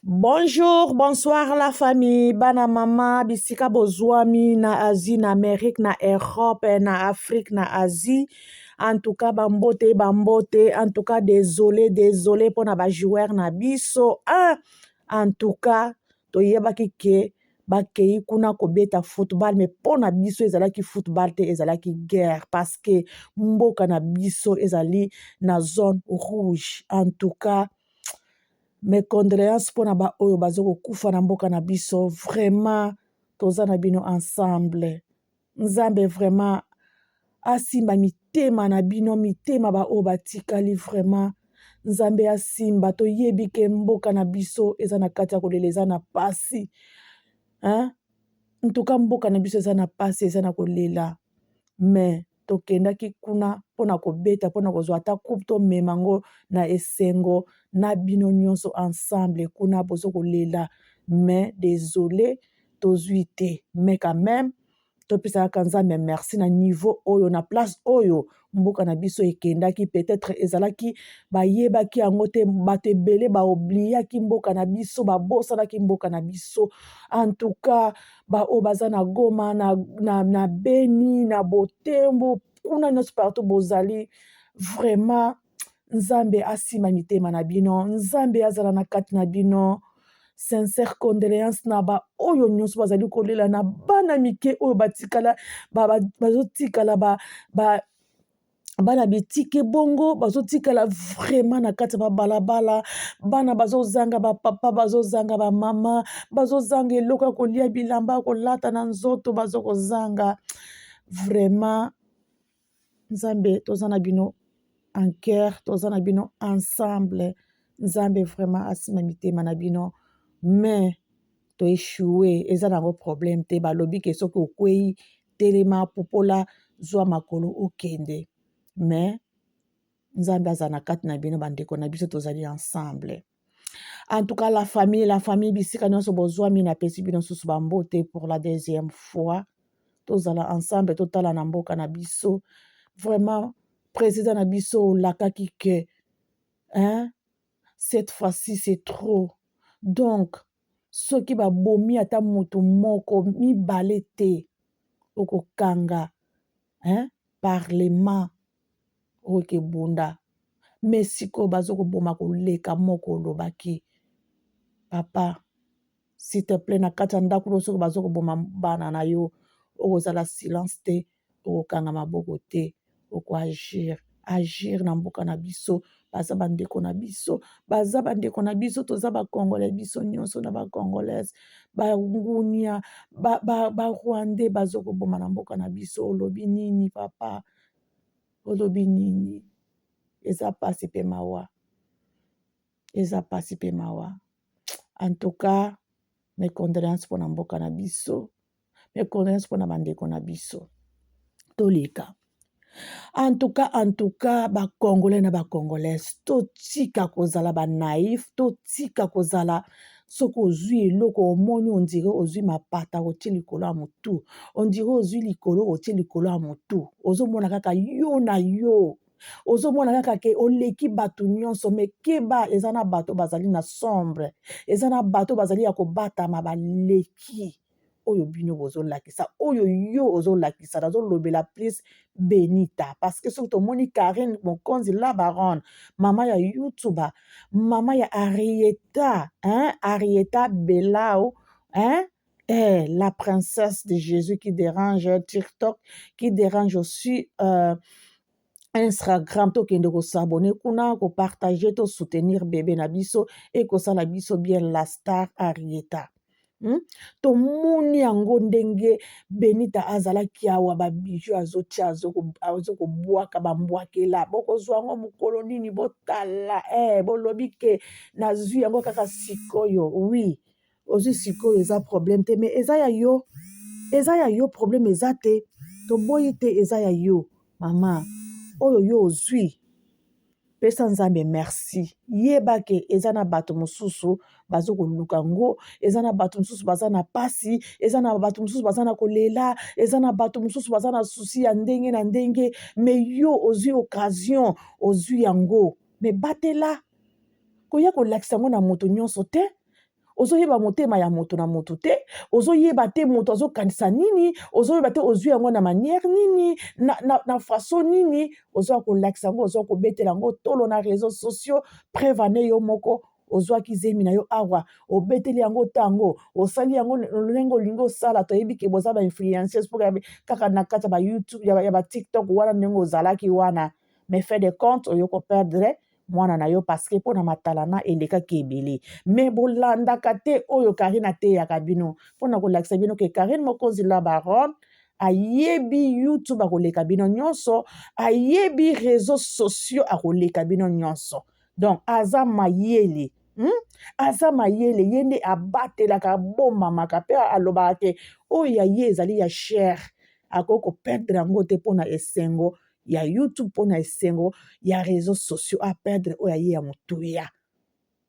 Bonjour, bonsoir la famille, bana mama, bisika bozwami na Asie, na Amerique, na Europe, na Afrique, na Asie. En tout cas, bambote, bambote. En tout cas, désolé, désolé pona ba joueurs na biso. Ah, en tout cas, toyebaki ke bakei kuna kobeta football mais mpo na biso ezalaki football te ezalaki guerre parce que mboka na biso ezali na zone rouge en tout cas mes condoleances mpo na baoyo baza kokufa na mboka na biso vraiment toza na bino ensemble nzambe vraiment asimba mitema na bino mitema baoyo batikali vraiment nzambe asimba toyebi ke mboka na biso eza na kati ya kolela eza na pasi hein? ntuka mboka na biso eza na pasi eza na kolela mais tokendaki kuna mpo na kobeta mpo na kozwa ata coupe tomema yango na esengo na bino nyonso ensemble kuna bozo kolela mais desole tozui te mais quand meme topesa kaka nzambe merci na niveau oyo na place oyo mboka na biso ekendaki peut-être ezalaki bayebaki yango te bato ebele baobliyaki mboka na biso babosanaki mboka na biso en tout cas baoyo baza na goma na, na, na beni na botembo kuna nyonso partout bozali vraiment nzambe asima mitema na bino nzambe azala na kati na bino sincère condoléance na baoyo nyonso bazali kolela na bana mike oyo batikala bazotikala ba, ba, ba bana bitike bongo bazotikala vraiment na kati ya babalabala bana bazozanga bapapa bazozanga bamama bazozanga eloko ya kolia bilamba ya kolata na nzoto bazokozanga vraiment nzambe toza na bino en coeur toza na bino ensemble nzambe vraiment asima mitema na bino mais toechoue eza na yango problème te balobi ke soki okwei telema popola zwa makolo okende mais nzambe aza na kati na bino bandeko na biso tozali ensemble en tout cas la famille la famille bisika nyonso bozwami napesi bino susu bambote pour la deuxième fois tozala ensemble totala na mboka na biso vraiment président na biso olakaki ke hein? cette fois-ci c'est trop donc soki babomi ata moto moko mibale te okokanga hein parlement oyo ke bunda mais sikoyo bazo koboma koleka moko olobaki papa s'il te plait na kati ya ndaku na yo soki bazo koboma bana na yo okozala silence te okokanga maboko te oko agir agir na mboka na biso baza bandeko na biso baza bandeko na biso toza bacongolais biso nyonso na bacongolaise bangunia barwandais ba, ba bazo koboma na mboka na biso olobi nini papa olobi nini eza mpasi mpe mawa eza mpasi mpe mawa en tout cas mes condoléances mpona mboka na biso mais condoleance pona ba ndeko na biso toleka en tout cas en tout cas ba congolais na ba congolaise totika kozala ba naïf totika kozala soki ozwi eloko omoni ondire ozwi mapata otie likolo ya motu ondire ozwi likolo otie likolo ya motu ozomona kaka yo na yo ozomona kaka ke oleki bato nyonso me keba eza na bato bazali na sombre eza na bato bazali ya kobatama baleki oyo bino bozolakisa oyo yo ozolakisa nazolobela plus benita parce que soki tomoni karine mokonzi la baronne mama ya youtuba mama ya arieta hein? arieta belau hein? Eh, la princesse de Jésus qui dérange TikTok, qui dérange aussi euh, Instagram tokende kosabone kuna kopartage to soutenir bebe na biso ekosala biso bien la star arieta Hmm? tomoni yango ndenge benita azalaki awa babiju azotia azokobwaka bambwakela bokozwa yango mokolo nini botala eh, bolobi ke nazwi yango kaka sikoyo wi ozwi sikoyo eza problème te mais eza ya yo eza ya yo problème eza te toboyi te eza ya yo mama oyo yo ozwi pesa nzambe merci yeba ke eza na bato mosusu bazo koluka ngo eza na bato mosusu baza na pasi eza na bato mosusu baza na kolela eza na bato mosusu baza na susi ya ndenge na ndenge me yo ozwi occasion ozwi yango me batela koya kolakisa yango na moto nyonso te ozoyeba motema ya moto na moto te ozoyeba te moto azokanisa nini ozoyeba te ozwi yango na manière nini na, na, na façon nini ozoya kolakisa yango ozoya kobetela yango tolo na réseau sociaux preuve ane yo moko ozwaki zemi na yo awa obeteli yango ntango osali yango lolenge olingi osala toyebi ke boza bainfluenceuse mpo kaka na kati ya bayoutube ya batiktok wana ndenge ozalaki wana mais fait de compte oyo koperdre mwana na yo parce que mpo na matalana elekaki ebele mais bolandaka te oyo karine ateyaka bino mpo na kolakisa bino ke karine mokonzi la baronne ayebi youtube akoleka bino nyonso ayebi réseau sociaux akoleka bino nyonso donc aza mayele Hmm? aza mayele ye nde abatelaka abomamaka mpe alobaka te oyo ya ye ezali ya chere akoki koperdre yango te mpo na esengo ya youtube mpo na esengo ya réseau sociaux aperdre oyo aye ya motuya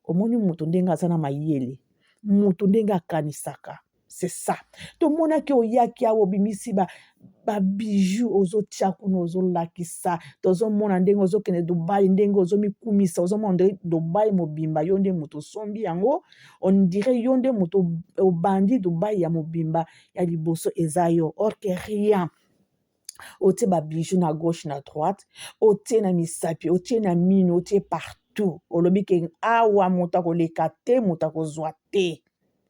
omoni moto ndenge aza na mayele moto ndenge akanisaka c'est ça tomonaki oyaki awa obimisi ba babiju ozotia kuna ozolakisa tozomona ndenge ozokende dubai ndenge ozomikumisa ozomona nde dubai mobimba yo nde moto osombi yango ondire yo nde moto obandi dubai ya mobimba ya liboso eza yo orke rien otie ba bijoux na gauche na droite otie na misapi otie na mino otie partout olobi ke awa moto akoleka te moto akozwa te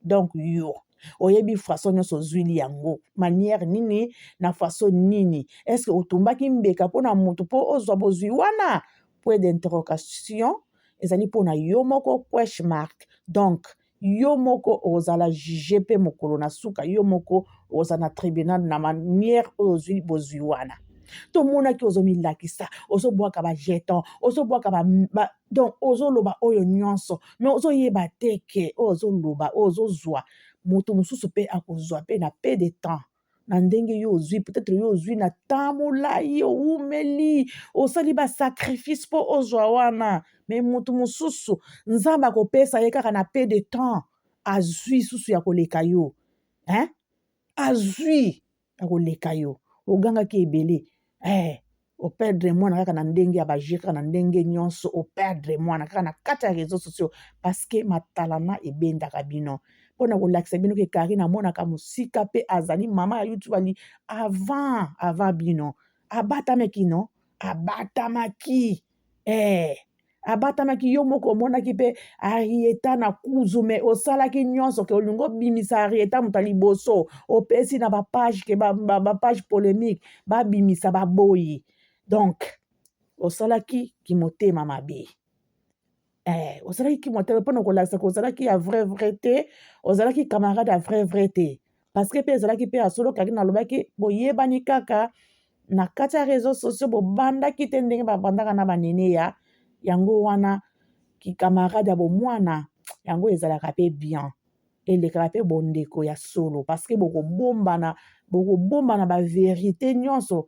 donc yo oyebi faso nyonso ozwili yango manière nini na faso nini estce otumbaki mbeka mpo na moto mpo ozwa bozwi wana point d'interrogation ezali mpo na yo moko question mark donc yo moko okozala juge mpe mokolo na suka yo moko okozala na tribunal na manière oyo ozwi bozwi wana tomonaki ozomilakisa ozobwaka bajeton ozobwaka ba, ba, donc ozoloba oyo nyonso me ozoyeba te ke oyo ozoloba oyo ozozwa moto mosusu mpe akozwa mpe na pe de temps na ndenge yo ozwi peut-être yo ozwi na temps molai owumeli osali basacrifice mpo ozwa wana me motu mosusu nzambe akopesa ye kaka na pe de temps azwi susu ya koleka yo hein? azwi ya koleka yo ogangaki ebele eh, o perdre mwana kaka na ndenge ya baje kaka na ndenge nyonso o perdre mwana kaka na kati ya réseaux sociaux parce que matalana ebendaka bino mpo na kolakisa bino ke karine amonaka mosika mpe azali mama ya youtube ali avant avant bino abatamaki no abatamaki eh abatamaki yo moko omonaki mpe arieta na kuzu me osalaki nyonso ke olingi obimisa arieta moto ya liboso opesi na bapage ke bapage polemique babimisa baboyi donc osalaki kimotema mabe eh, osalaki kimotema mpona kolakisa ke ozalaki ya vrai vrai te ozalaki camarade ya vrai vrai te paske mpe ezalaki mpe ya solo kaki nalobaki boyebani kaka na kati ya réseau sociaux bobandaki te ndenge babandaka na banene ya yango wana kikamarade ya bomwana yango ezalaka mpe bien elekaka mpe bondeko ya solo paske bokobombana bokobombana baverité nyonso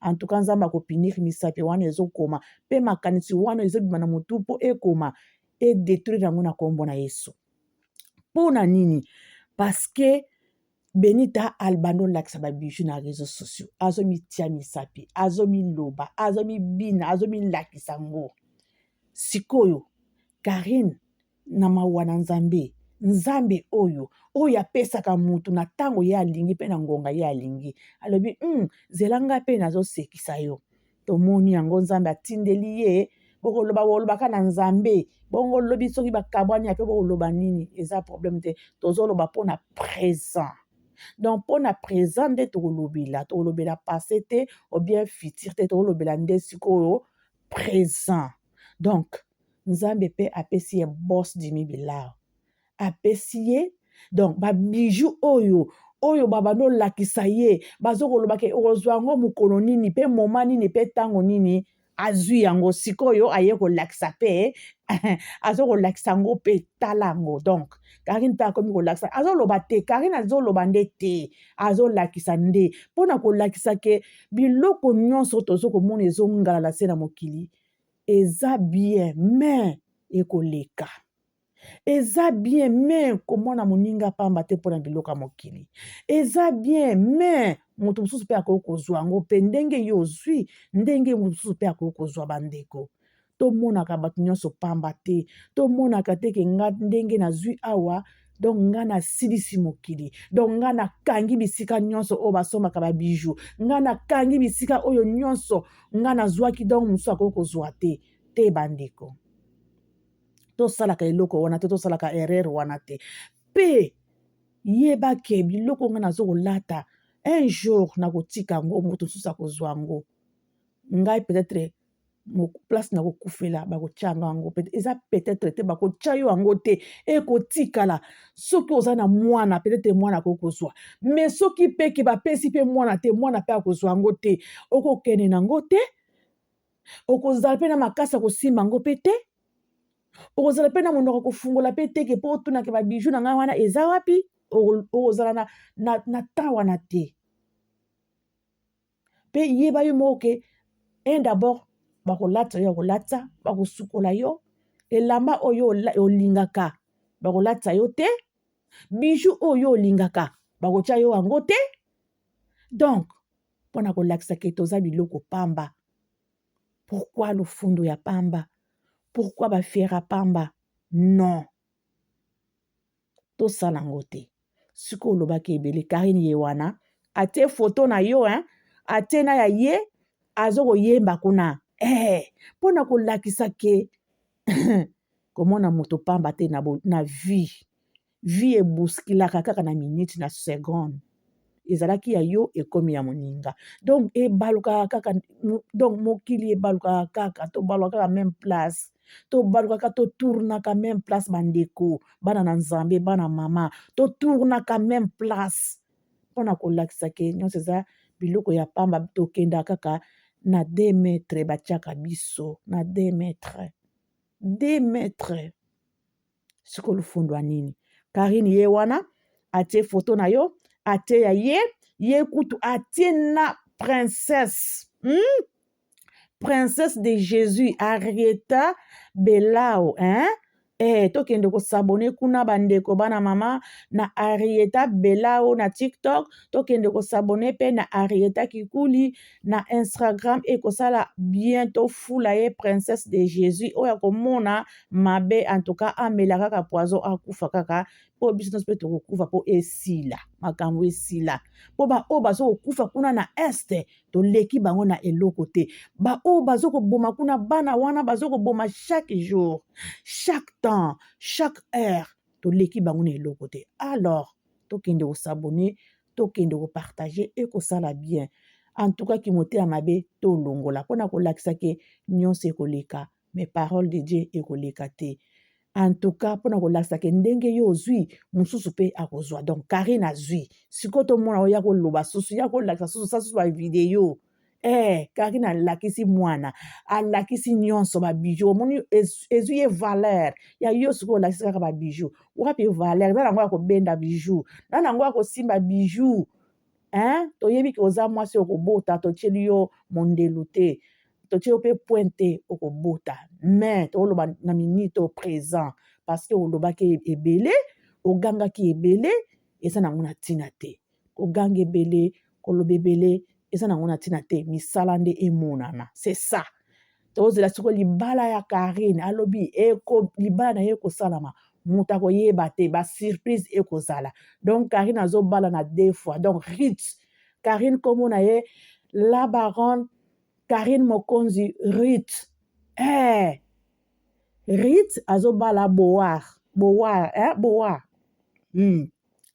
en tout cas nzambe akopunir misapi wana ezokoma mpe makanisi wana ezobima na motu mpo ekoma edetruire yango na nkombo na yesu mpo na nini parceke benita albanda olakisa babiju na réseau sociaux azomitia misapi azomiloba azomibina azomilakisa ngo sikoyo karine na mawa na Nzambe. Nzambe oyo oyo apesaka moto na ntango ye alingi mpe na ngonga ye alingi, alobi um, zela ngai mpe nazosekisa yo. Tomoni yango, Nzambe atindeli ye bokoloba bolobaka na Nzambe bongo lobi soki bakabwani ape bokoloba nini, eza problème te, tozoloba mpo na présent donc mpo na présent nde tokolobela, tokolobela passé te ou bien futur te, tokolobela nde sikoyo présent donc nzambe pe apesi ye boss dimi bilaro apesi ye donc ba bijoux oyo oyo babandi olakisa ye bazokoloba ke okozwa yango mokolo nini pe moma nini pe ntango nini azwi yango sikoyo aye kolakisa pe azokolakisa yango pe tala yango donc karine mpe akomi kolakisa azoloba te karine azoloba nde te azolakisa nde mpo na kolakisa ke biloko nyonso tozo komona ezongalala se na mokili Eza bien main ekoleka. Eza bien main komona moninga pamba te mpo na biloko ya mokili. Eza bien main moto mosusu mpe akoki kozwa yango mpe ndenge yo ozwi ndenge moto mosusu mpe akoki kozwa bandeko. Tomonaka bato nyonso pamba te. Tomonaka te ke nga ndenge nazwi awa donc nga nasilisi mokili donc nga nakangi bisika nyonso oyo basombaka babiju nga nakangi bisika oyo nyonso nga nazwaki donc mosusu akoki kozwa te te bandeko tosalaka eloko wana te tosalaka erreur wana te mpe yeba ke biloko nga nazo kolata un jour nakotika yango moto mosusu akozwa yango ngai peut-être place na kokufela bakotya yango yango eza peut-être te bakotya yo yango te ekotikala soki oza na mwana peut-être mwana akoki kozwa mais soki mpe ke bapesi mpe mwana te mwana mpe akozwa yango te okokende na yango te okozala mpe na makasi ya kosimba yango mpe te okozala mpe na monoko kofungola mpe te ke mpo otunake babiju na ngai wana eza wapi okozala na, na, na temps wana te Pe yeba yo moko ke un d'abord bakolata yo ya kolata, bakosukola yo, elamba oyo olingaka bakolata yo te, bijou oyo olingaka bakotia yo yango te. Donc pona kolakisa ke toza biloko pamba, pourquoi lofundo ya pamba? Pourquoi ba fiera pamba? Non. tosala yango te sikoyo olobaki ebele karine ye wana atie foto na yo hein? atie na ya ye azo koyemba kuna eh, mpo na kolakisa ke komona moto pamba te na, na vie vie eboskilaka kaka na minute na seconde ezalaki ya yo ekomi ya moninga donc ebalukaka kaka donc mokili ebalukaka kaka tobalukaka kaka meme place tobalukaka totournaka meme place bandeko bana na nzambe bana mama totournaka meme place mpo na kolakisa ke nyonso eza biloko ya pamba tokendaka kaka na de metre batiaka biso na de metre de metre siko lufundwa nini karine ye wana atie foto na yo atie ya ye ye kutu atie na princesse hmm? princesse de jésus arieta belao hein? Eh, tokende kosabone kuna bandeko bana mama na arieta belao na tiktok tokende kosabone mpe na arieta kikuli na instagram ekosala bientôt fula ye princesse de jésus oyo akomona mabe en tout cas amela kaka poison akufa kaka mpo biso nyonso mpe tokokufa mpo esila makambo esila mpo baoyo bazo kokufa kuna na este toleki bango na eloko te baoyo bazo koboma kuna bana wana bazo koboma chaque jour chaque temps chaque heure toleki bango na eloko te alors tokende kosabone tokende kopartage ekosala bien en tout cas kimoteya mabe tolongola mpo na kolakisa ke nyonso ekoleka mais parole de Dieu ekoleka te en tout cas pona kolakisa ke ndenge yo ozui mosusu pe akozwa donc Karine azui sikoyo tomona oya koloba susu ya kolakisa susu sa susu ba video eh Karine alakisi mwana alakisi nyonso ba bijoux omoni ezui ye valeur ya yo sikoyo olakisi kaka ba bijoux wapi valeur na nango ya kobenda bijoux na nango ya kosimba bijoux hein toyebi ke oza mwasi okobota totieli yo mondelu te totie yo mpe point te okobota mais toloba na minute au présent parce que olobaki ebele ogangaki ebele eza nango na ntina te koganga ebele koloba ebele eza nango na ntina te misala nde emonana c'est ça tozela siko libala ya karine alobi eko libala na ye ekosalama moto akoyeba te basurprise ekozala donc karine azobala na deux fois donc rit karine nkombo na ye la baronne karine mokonzi rit eh. rit azobala boar boar eh, boar hmm.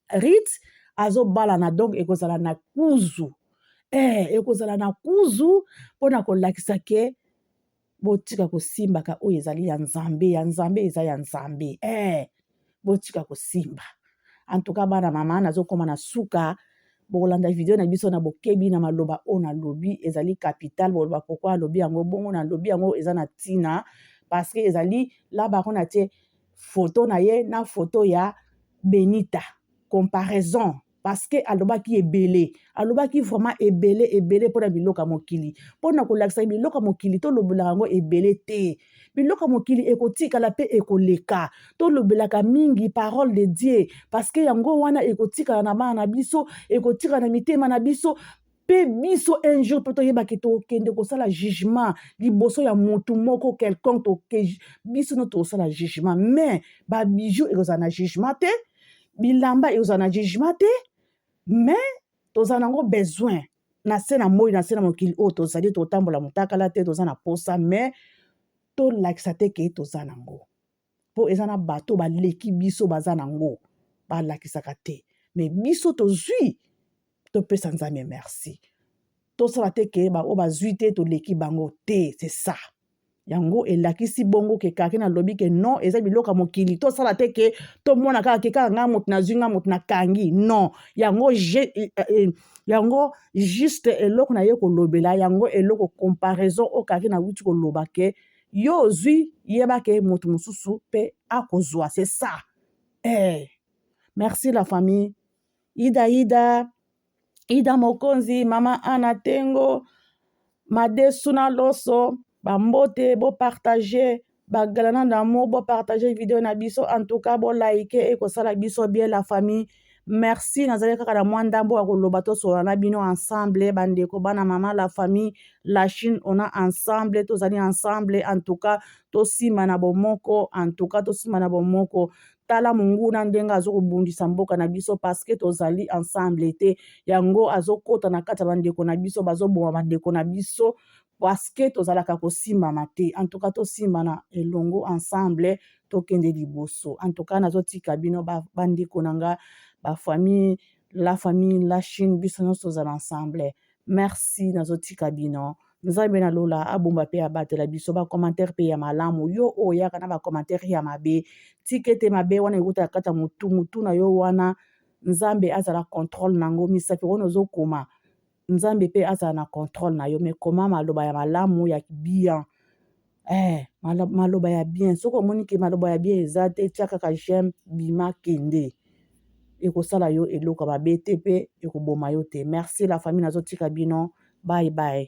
Rit azobalana donc ekozala na kuzu eh, ekozala na kuzu mpo na kolakisa ke botika kosimbaka oyo ezali ya nzambe ya nzambe eza ya nzambe eh, botika kosimba antuka bana mama nazokoma na suka bokolanda video na biso na bokebi na maloba oyo nalobi ezali capital boloba pokua alobi yango bongo nalobi yango eza na ntina parce que ezali laba kuna te photo na ye na photo ya Benita comparaison parce que alobaki ebele alobaki vraiment ebele ebele mpona biloko ya mokili mpona kolakisa biloko ya mokili tolobelaka yango ebele te biloko ya mokili ekotikala mpe ekoleka tolobelaka mingi parole de Dieu parce que yango wana ekotikala na bana na biso ekotikala na mitema na biso mpe biso un jour mpe toyeba ke tokende kosala jugement liboso ya motu moko quelconque toke biso no tokosala jugement mais babijou ekozala na jugement te bilamba ekozala na jugement te mais tozala nango besoin na se na moi na se na mokili oyo tozali totambola motakala te toza na mposa mais tolakisa te ke toza nango mpo eza na bato baleki biso baza na yango balakisaka te me biso tozwi topesa nzambe merci tosala te ke baoyo bazwi te toleki bango te se ça yango elakisi bongo ke kake nalobi ke non eza biloko ya mokili tosala te ke tomona kaka ke kaka ngai moto nazwi ngai moto nakangi non yango je, eh, eh, yango juste eloko na ye kolobela yango eloko comparaison oyo kake nauti koloba ke yo ozwi yeba ke moto mosusu mpe akozwa c'est ça eh. merci la famille ida ida ida mokonzi mama ana tengo madesu na loso bambote bopartage bagalana d'amour bopartage video na biso en tout cas bolike ekosala biso bien la famille Merci, nazali kaka na mwa ndambo ya koloba tosolola na bino ensemble bandeko bana mama la famille la Chine ona ensemble tozali ensemble en tout cas tosima na bomoko en tout cas tosima na bomoko tala monguna ndenge azokobundisa mboka na biso parceke tozali ensemble te yango azokota na kati ya bandeko na biso bazoboma bandeko na biso parce que tozalaka kosimbana te en tout cas tosimbana elongo ensemble tokende liboso en tout cas nazotika bino bandeko na nga bafamille la famille la chine biso nyonso tozala ensemble merci nazotika bino nzambe na lola abomba mpe abatela biso bacommentaire mpe ya malamu yo oyo yaka na bacommentaire ya mabe tika ete mabe wana ekotala kati ya motu motu na yo wana nzambe azala controle na yango misapi wana ozokoma nzambe pe azala na controle na yo mais koma maloba ya malamu ya bien eh, maloba ya bien soki omoni ke maloba ya bien eza te tia kaka j'aime bima kende ekosala yo eloko mabe te pe ekoboma yo te merci la famille nazotika bino bye bye